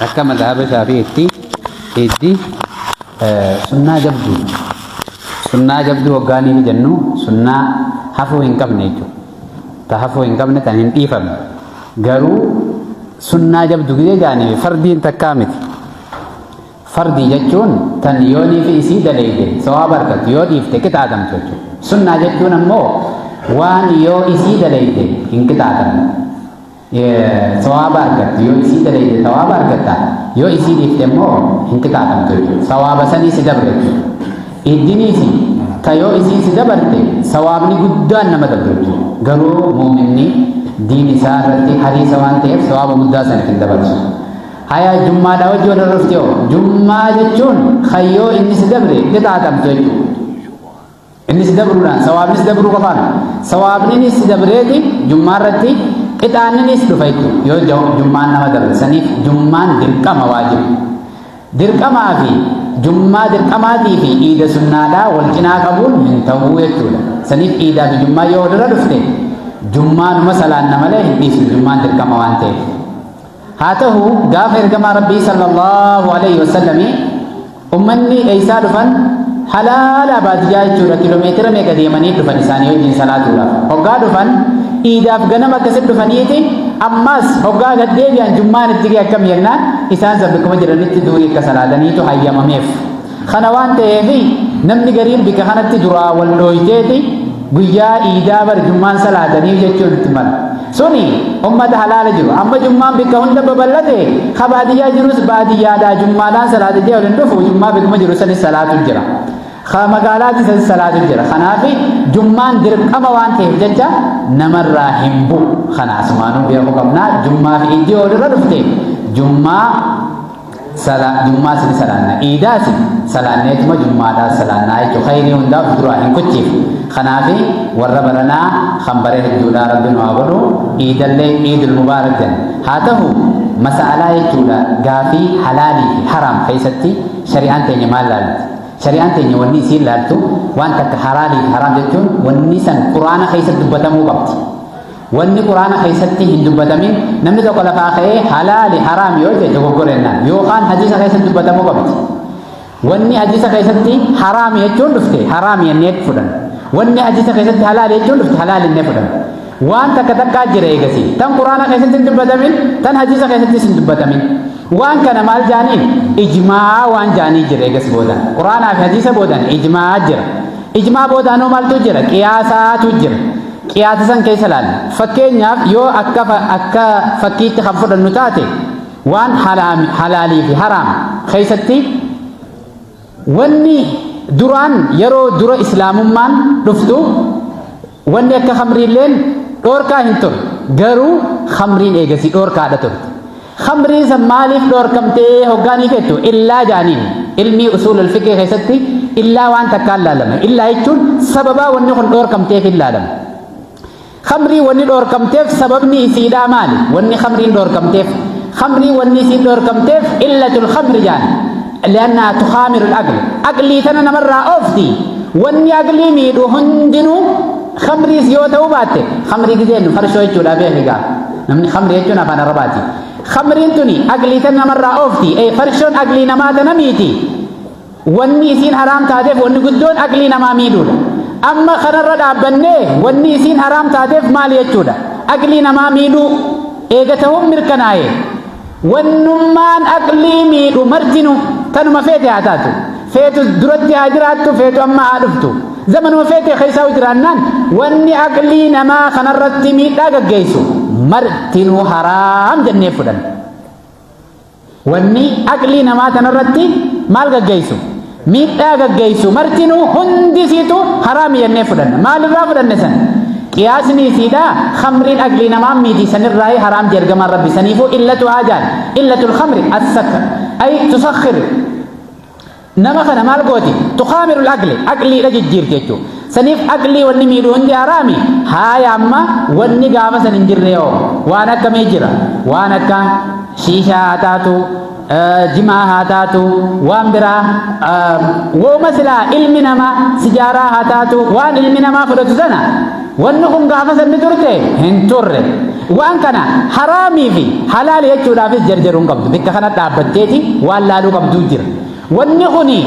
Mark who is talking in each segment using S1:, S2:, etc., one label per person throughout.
S1: Akka madhaaba shaafi'itti hiddi sunnaa jabduu sunnaa jabduu hoggaa ni jennu sunnaa hafuu hin qabne jechuudha. Ta hafuu hin qabne tan hin dhiifamne garuu sunnaa jabdu gidee jaanii fardiin takkaa miti. Fardii jechuun tan yoonii fi isii daleeyde sawaaba argattu yoo dhiifte qixaatamtu jechuudha. Sunnaa jechuun ammoo waan yoo isii daleeyde hin qixaatamne. sawaaba argatte yoo isii daleeyde sawaaba argatta yoo isii dhiifte immoo hin qixaaxamtu jechuudha sawaaba sanii si dabre iddiniisi ta yoo isii si dabarte sawaabni guddaan nama dabre jechuudha garuu muuminni diin isaa irratti hariisa waan ta'eef sawaaba guddaa sana hin dabarsu haya jummaadha wajji wal horofte hoo jummaa jechuun kayyoo inni si dabre qixaaxamtu jechuudha Innis dabruudhaan sawaabnis dabruu qofaan sawaabninis dabreeti jummaa irratti qixaanninis dhufa jechuudha. Yoo ja- jummaan nama dabre saniif jummaan dirqama waajiba. Dirqamaa fi jummaa dirqamaatii fi iida sunnaadhaa wal cinaa qabuun hin ta'u jechuudha. Saniif iidaa fi jummaa yoo walirra dhufte jummaanuma salaanna malee hin dhiisnu jummaan dirqama waan ta'eef. haa tahu gaafa ergamaa rabbii sallallahu alayhi wasallami ummanni eeysaa dhufan halaala baadiyyaa jechuudha kilomeetira meeqa deemanii dhufan isaanii wajjin salaatuudhaaf hoggaa dhufan iidaaf ganama akkasitti dhufaniiti ammaas hoggaa gad deebi'an jummaan itti ga'e akkam jennaan isaan san bakkuma jiranitti duurii akka salaataniitu hayyamameef Kana waan ta'eef namni gariin bika kanatti duraa wal dhooyteeti guyyaa iidaa bar jummaan salaatanii jechuun itti mala. Suni ummata halaala jiru. Amma jummaan bika hunda babal'ate ka baadiyyaa jirus baadiyyaadhaa jummaadhaan salaata jee waliin dhufu jummaa bikuma jiru sanis salaatu jira. Ka magaalaatti sanis salaatu jira. Kanaaf jummaan dirqama waan ta'eef jecha namarraa hin bu'u. Kanaasumaanuu beekuu qabnaa jummaa fi iddoo walirra dhufte jummaa sala jummaas ni salaanna iidaas salaanneetuma jummaadhaas salaannaa jechuun khayrii hundaaf duraa hin kuchiif kanaaf warra baranaa kan bare hedduudhaa rabbi nu haa godhu iidallee iidul mubaarak jenna haa ta'u masaalaa jechuudha gaafii halaalii fi haraam keessatti shari'aan teenya maal laalti shari'aan teenya wanni isiin laaltu waan takka halaalii fi haraam jechuun wanni san quraana keessatti dubbatamuu qabdi Wanni Qur'aana keessatti hin dubbatamin namni tokko lafaa ka'ee halaali haraam yoo jedhe dogoggorennaan yookaan hadiisa keessatti dubbatamuu qabdi. Wanni hadiisa keessatti haraam jechuun dhufte haraam jennee fudhan. Wanni hadiisa keessatti halaali jechuun dhufte halaali jennee fudhan. Waan takka takkaa jira eegasii. Tan Qur'aana keessatti hin dubbatamin tan hadiisa keessattis hin dubbatamin. Waan kana maal jaaniin ijmaa waan jaanii jira eegas boodan. Qur'aanaa fi hadiisa boodan ijmaa jira. Ijmaa booda anoo maaltu jira? Qiyaasaatu jira. Qiyaasa san keessa laalla. Fakkeenyaaf yoo akka akka fakkiitti kan fudhannu taate waan halaalii fi haraam keessatti wanni duraan yeroo dura islaamummaan dhuftu Wanni akka khamriilleen dhoorkaa hin turre garuu khamriin eegasii dhoorkaadha turte. Khamriin san maaliif dhoorkamtee hoggaanii fettu illaa jaaniin ilmii usuulul fiqee keessatti illaa waan takkaan laalama. Illaa jechuun sababaa wanni kun dhoorkamteef hin laalama. Khamrii wanni dhoorkamteef sababni isiidhaa maali? Wanni khamriin dhoorkamteef. Khamrii wanni isiin dhoorkamteef illatul khamri jaani. li'annahaa tukhaamiru aql aqlii tana namarraa oofti wanni aqlii miidhu hundinuu khamriis yoo ta'uu baatte khamrii gizeennu farshoo jechuudha beeki gaa namni khamrii jechuun afaan arabaati khamriin tuni aqlii tana namarraa oofti ee farshoon aqlii namaa tana miiti wanni isiin haraam taateef wanni guddoon aqlii namaa miidhuudha amma kanarra dhaabbannee wanni isiin haraam taateef maali jechuudha aqlii namaa miidhuu eega ta'uun mirkanaa'e Wannummaan aqlii miidhu martinu tanuma feete haa taatu. Feetu duratti haa jiraattu, feetu amma haa dhuftu. Zamanuma feete keessaa jiraannaan wanni aqlii namaa kanarratti miidhaa gaggeessu martinuu haraam jennee fudhanna. Wanni aqlii namaa kanarratti maal gaggeessu? miidhaa gaggeessu martinuu hundi isiitu haraami jennee fudhanna maalirraa fudhanne san qiyaasni isiidha khamriin aglii namaan miiti sanirraa haraam jergamaan rabbi saniifuu illatu haajaan illatul khamri assakr ay tusakhir nama kana maal gooti tuqaamirul aqli aqliidha jijjiirti jechuu saniif aqlii wanni miidhu hundi haraami haaya amma wanni gaafa san hin jirre yoo waan akkamii jira waan akka shiishaa haa taatu jimaa haa taatu waan biraa wooma silaa ilmi namaa sijaaraa haa taatu waan ilmi namaa fudhatu sana wanni kun gaafa sanni turte hin turre waan kana haraamii fi halaali jechuudhaafis jarjaruu hin qabdu bakka kana dhaabbatteeti waan laaluu qabduu jira wanni kuni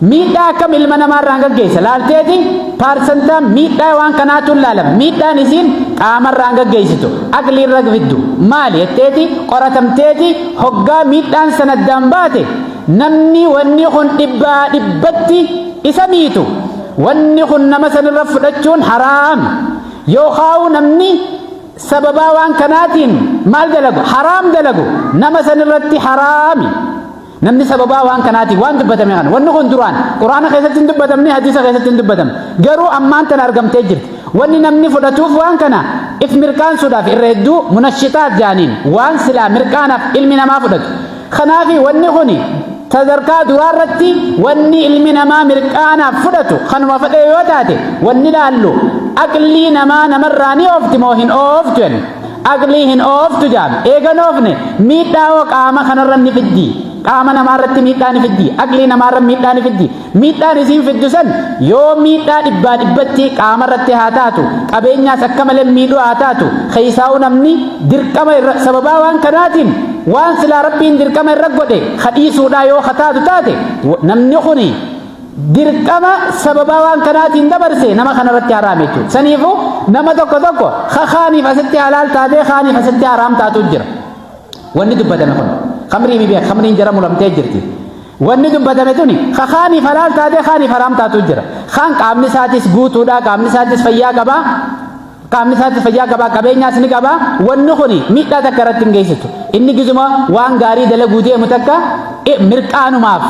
S1: Miidhaa akkam ilma namaa irraan gaggeessa laalteeti paarsantaan miidhaa waan kanaatu ilaalama. Miidhaan isiin qaama irraan gaggeessitu aqlii irra fiddu maali jetteeti qoratamteeti hoggaa miidhaan san addaan baate namni wanni kun dhibbaa dhibbatti isa miitu wanni kun nama sanirra fudhachuun haraam yookaa'u namni sababaa waan kanaatiin maal dalagu haraam dalagu nama sanirratti haraami. Namni sababaa waan kanaatiif waan dubbatame kana wanni kun duraan quraana keessatti hin dubbatamne hadiisa keessatti hin dubbatamne garuu ammaan tana argamtee jirti wanni namni fudhatuuf waan kana if mirqaansuudhaaf irra hedduu munashixaat jaaniin waan silaa mirqaanaaf ilmi namaa fudhatu kanaafi wanni kun sadarkaa duraa irratti wanni ilmi namaa mirqaanaaf fudhatu kanuma fedhee yoo taate wanni laallu aqlii namaa namarraa ni oofti moo hin ooftu jenna Aqlii hin ooftu jaan. Eegan oofne miidhaa hoo qaama kanarra ni fiddi. Qaama namaarratti miidhaa ni fiddi. Aqlii namaarra miidhaa ni fiddi. Miidhaan isiin fiddu san yoo miidhaa dhibbaa dhibbatti qaamarratti haa taatu, qabeenyaas akka malee miidhuu haa taatu, keessaa'uu namni dirqama irra sababaa waan kanaatiin waan silaa rabbiin dirqama irra godhe kadhiisuudhaa yoo kataatu taate namni kuni dirqama sababaa waan kanaatiin dabarse nama kanarratti haraam jechuudha. Saniifuu nama tokko tokko ka kaaniif asitti halaal taatee kaaniif asitti haraam taatu jira. Wanni dubbatame kun kamrii bibee kamriin jara mulamtee jirti. Wanni dubbatame tuni ka kaaniif halaal taatee kaaniif haraam taatu jira. Kaan qaamni isaatis guutuudha qaamni isaatis fayyaa qaba. Qaamni isaatti fayyaa qabaa qabeenyaas ni qabaa wanni kun miidhaa takka irratti hin geessitu. Inni gizuma waan gaarii dalaguu deemu takka mirqaanumaaf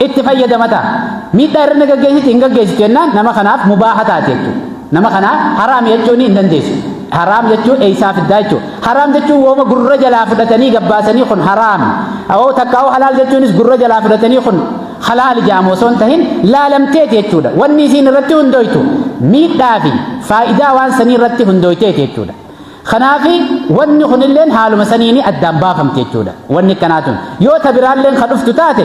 S1: itti fayyadama ta'a. Miidhaa irra ni gaggeessiti hin gaggeessitu jennaan nama kanaaf mubaaha taate jechuudha. Nama kanaaf haraam jechuun hin dandeessu. Haraam jechuun eessaa fiddaa jechuudha. Haraam jechuun wooma gurra jalaa fudhatanii gabbaasanii kun haraam. Awoo takka awoo halaal jechuunis gurra jalaa fudhatanii kun halaal jaamu osoo hin tahin laalamteeti jechuudha. Wanni isiin irratti hundooytu miidhaa fi faayidaa waan sanii irratti hundooyteeti jechuudha. Kanaaf wanni kunilleen haaluma saniini addaan baafamti jechuudha. Wanni akkanaa tun yoo ta biraalleen ka dhuftu taate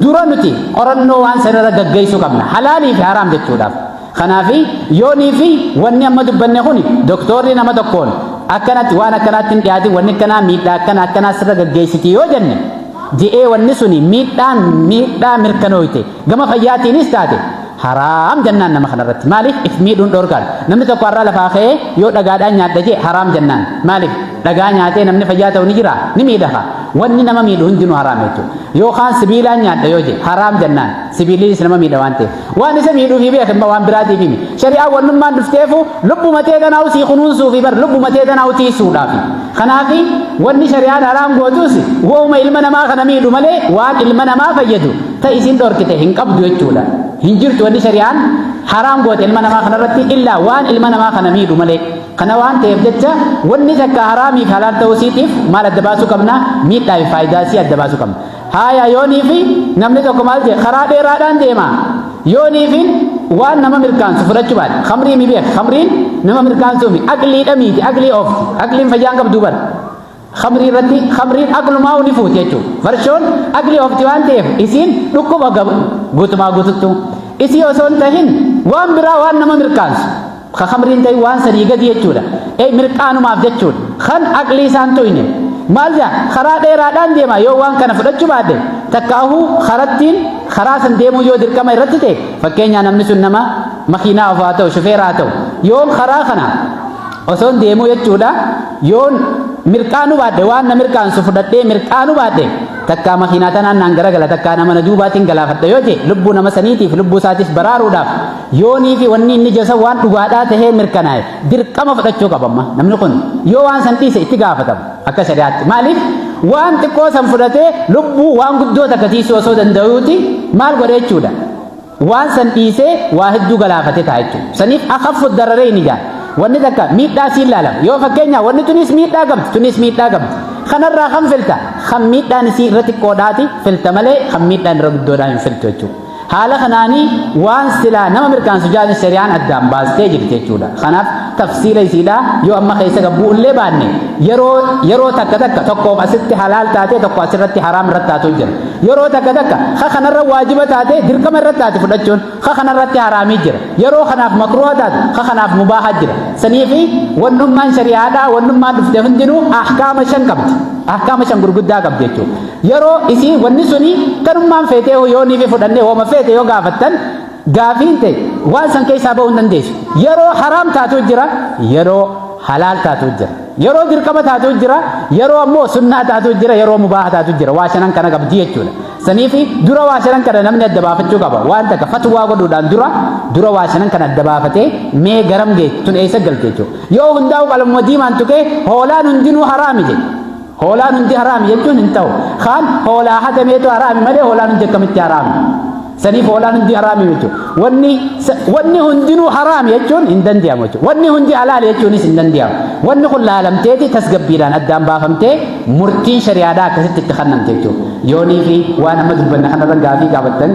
S1: dura nuti qorannoo waan sanirra gaggeessuu qabna. Halaalii fi haraam jechuudhaaf. Kanaaf yoonii fi wanni amma dubbanne kun doktoorri nama tokkoon akkanatti waan akkanaatti hin dhiyaatin wanni akkanaa miidhaa akkana akkanaa sirra gaggeessiti yoo jenne je'ee wanni suni miidhaan miidhaa mirkanooyte gama fayyaatiinis taate haraam jennaan nama kanarratti maaliif if miidhuun dhorkaan namni tokko har'aa lafaa ka'ee yoo dhagaadhaan nyaadha jee haraam jennaan maaliif dhagaa nyaatee namni fayyaa ta'u ni jira ni miidhafa wanni nama miidhu hundinuu haraam jechuudha yookaan sibiilaan nyaadha yoo jee haraam jennaan sibiiliinis nama miidha waan ta'eef Waan isa miidhuufi beeke amma waan biraatiif himi. Shari'aa wannummaan dhufteefu lubbuma tee tanaa'u sii kunuunsuufi bar lubbuma tee tanaa'u tiisuudhaafi. Kanaafi wanni shari'aan haraam gootus wooma ilma namaa kana miidhu malee waan ilma namaa fayyadu ta isin dhorkite hin qabdu jechuudha. Hin jirtu wanni shari'aan haraam goote ilma namaa kanarratti illaa waan ilma namaa kana miidhu malee. Kana waan ta'eef jecha wanni takka haraamiif halaal ta'uu isiitiif maal adda baasuu qabna? Miidhaa fi faayidaa isii adda baasuu qabna. Haaya yooniifi namni tokko maal jee karaa dheeraadhaan deema yooniifin waan nama mirkaansu fudhachuu baate kamrii mi beeka kamriin nama mirkaansuu mi aqliidha miiti aqlii of aqliin fayyaan qabduu bara kamrii irratti kamriin aqlumaa ni fuuti jechuudha farshoon aqlii ofti waan ta'eef isiin dhukkuba guutumaa guututtuu isii osoo hin tahin waan biraa waan nama mirkaansu ka kamriin ta'e waan sadii gadi jechuudha ee mirqaanumaaf jechuudha kan aqlii isaan tu'ine maal jaa karaa dheeraadhaan deema yoo waan kana fudhachuu baadhe takka ahuu karattiin karaa san deemuu yoo dirqama irratti ta'e fakkeenyaa namni sun nama makiinaa ofaa ta'u shufeeraa ta'u yoon karaa kana osoon deemuu jechuudha yoon mirqaanuu baadhe waan na mirqaansu fudhadhee mirqaanuu baadhe takkaa makiinaa tanaan naan garagala takkaa nama na duubaatiin galaafadha yoo ta'e lubbuu nama saniitiif lubbuu isaatiif baraaruudhaaf Yoonii fi wanni inni jasa waan dhugaadhaa tahee mirkanaa'e dirqama fudhachuu qaba amma namni kun yoo waan san dhiise itti gaafatama akka shari'aatti maaliif waan xiqqoo san fudhatee lubbuu waan guddoo takka tiisuu osoo danda'uuti maal godhe jechuudha waan san dhiisee waa hedduu galaafate ta'a jechuudha saniif akaffu dararee hin ijaan wanni takka miidhaa siin laalama yoo fakkeenya wanni tunis miidhaa qabdi tunis miidhaa qabdi kanarraa kan filta kan miidhaan isii irra xiqqoodhaati filta malee kan miidhaan irra guddoodhaa hin filtu jechuudha. Haala kanaani waan silaa nama mirkaansu jaani shari'aan addaan baastee jirti jechuudha. Kanaaf tafsiila isiidha yoo amma keessa gabbuu illee baanne yeroo yeroo takka takka tokkoof asitti halaal taatee tokko asirratti haraam irratti taatu jira. Yeroo takka takka ka kanarra waajiba taatee dirqama irratti taate fudhachuun ka kanarratti haraamii jira. Yeroo kanaaf makruha taate ka kanaaf mubaaha jira. Saniifi wannummaan shari'aadhaa wannummaan dhufte hundinuu ahkaama shan qabdi. Ahkaama shan gurguddaa qabdi jechuudha. Yeroo isii wanni suni kanummaan feetee hoo yoo niifi fudhannee hooma feete yoo gaafattan gaafiin ta'e waan san keessaa ba'uu hin dandeessu. Yeroo haraam taatu jira, yeroo halaal taatu jira. Yeroo dirqama taatu jira, yeroo ammoo sunnaa taatu jira, yeroo mubaaha taatu jira. Waa shanan kana qabdi jechuudha. Saniifi dura waa shanan kana namni adda baafachuu qaba. Waan takka fatwaa godhuudhaan dura dura waa shanan kana adda baafatee mee garam geessu tun eessa galti jechuudha. Yoo hundaa'u qalama diimaan tuqee hoolaan hundinuu haraami jedhe. Hoolaan hundi haraami jechuun hin ta'u. Kaan hoolaa hatameetu haraami malee hoolaan hundi akkamitti haraami? Saniif hoolaan hundi haraami jechuudha. Wanni wanni hundinuu haraami jechuun hin danda'amu jechuudha. Wanni hundi halaali jechuunis hin danda'amu. Wanni kun laalamteeti tasgabbiidhaan addaan baafamtee murtiin shari'aadhaa akkasitti itti kennamte jechuudha. Yoonii fi waan amma dubbanne kanarra gaafii gaafattan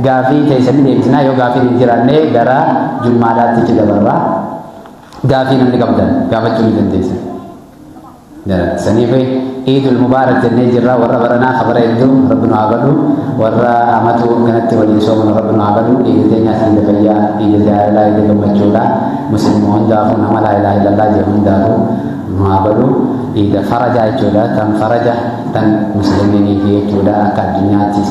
S1: gaafii teessanii deebisnaa yoo gaafiin hin jiraanne gara jummaadhaatti itti dabarraa gaafii namni qabdan gaafachuu ni dandeessan. Saniif Iidul Mubaarak jennee jirra warra baranaa kabara hedduu rabbi nu haa godhu warra amatu kanatti waliin soomanu rabbi nu haa godhu iidul teenyaas iida fayyaa iida jaalalaa iida gammachuudha muslimu hundaafuu nama laa ilaaha illallaa jedhu hundaafuu nu haa godhu iida farajaa jechuudha tan faraja tan muslimiiniifi jechuudha akka addunyaattis